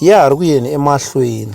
ya ha ri ku yeni emahlweni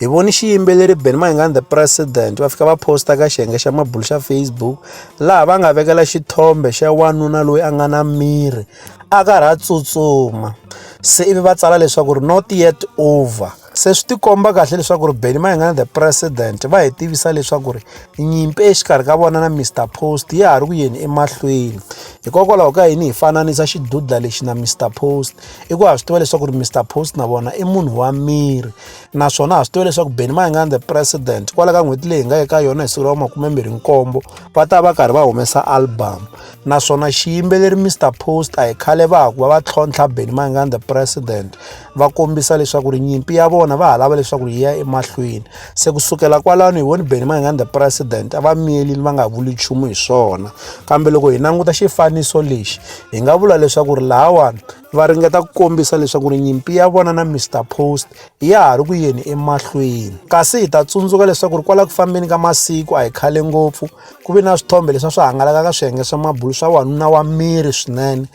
hi voni xiyimbeleri ben maingani the president va fika va posta ka xiyenge xa mabulu xa facebook laha va nga vekela xithombe xa wanuna loyi a nga na miri a karhi a tsutsuma se ivi va tsala leswaku ri not yet over se swi tikomba kahle leswaku ri beni maingana the president va hi tivisa leswaku ri nyimpi exikarhi ka vona na mr post ya ha ri ku yeni emahlweni hikokwalaho ka yini hi fananisa xidudla lexi na mr post i ku ha swi tiva leswaku ri mr post na vona i munhu wa miri naswona ha swi tiva leswaku beni mayingani the president kwala ka n'hweti leyi hi nga eka yona hi siku ra makumembirhi nkombo va ta va karhi va humesa album naswona xiyimbeleri mr post a hi khale va ha ku va va tlhontlha beni mayingani the president va kombisa leswaku ri nyimpi ya vona va ha lava leswaku ri yi ya emahlweni se kusukela kwalano hi voni beni mayingani the president a va miyelini va nga vuli nchumu hi swona kambe loko hi languta xifaniso lexi hi nga vula leswaku ri lahawani va ringeta ku kombisa leswaku ri nyimpi ya vona na mr post ya ha ri ku yeni emahlweni kasi hi ta tsundzuka leswaku ri kwala ku fambeni ka masiku a hi khale ngopfu ku ve na swithombe leswi a swi hangalaka ka swiyenge swa mabulu swa wanuna wa miri swinene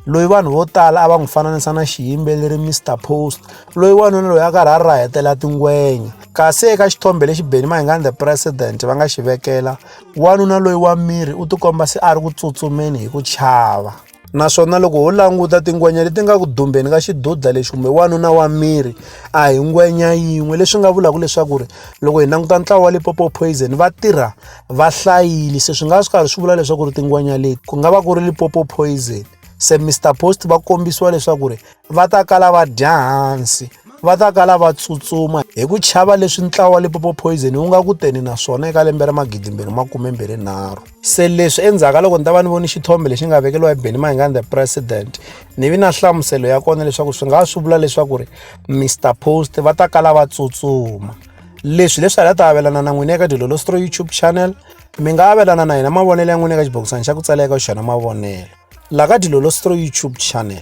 loyi vanhu vo tala a va n'wi fananisa na xiyimbeleri mr post loyi wanuna loyi a karhi a rahetela tingwenya kasi eka xithombe lexi beni mahingani the president va nga xi vekela Wanuna loyi wa miri u tikomba se a ri ku tsutsumeni hi ku chava. Naswona loko ho languta tingwenya leti nga ku dumbeni ka xidudla lexi kumbe wanuna wa miri a hi ngwenya yin'we leswi nga vulaka leswaku ri loko hi languta ntlawa wa Limpopo Poison va tirha va hlayile se swi nga swi karhi swi vula leswaku ri tingwenya leti ku nga va ku ri Limpopo Poison se Mister Post va kombisiwa leswaku ri va ta kala va dya hansi va ta kala va tsutsuma hi ku chava leswi ntlawa wa lipopo poison wu nga ku teni naswona eka lembe ra magidimbirhi makumembirhinharhu se leswi endzhaku ka loko ni ta va ni voni xithombe lexi nga vekeriwa hi benny mahingani the president ni vi na nhlamuselo ya kona leswaku swi nga swi vula leswaku ri mr post va ta kala va tsutsuma leswi leswi hala ta avelana na n'wini eka dilolostro youtube channel mi nga avelana na hina mavonelo ya n'wini eka xibokisana xa ku tsala eka xona mavonelo la ka dilolostro youtube channel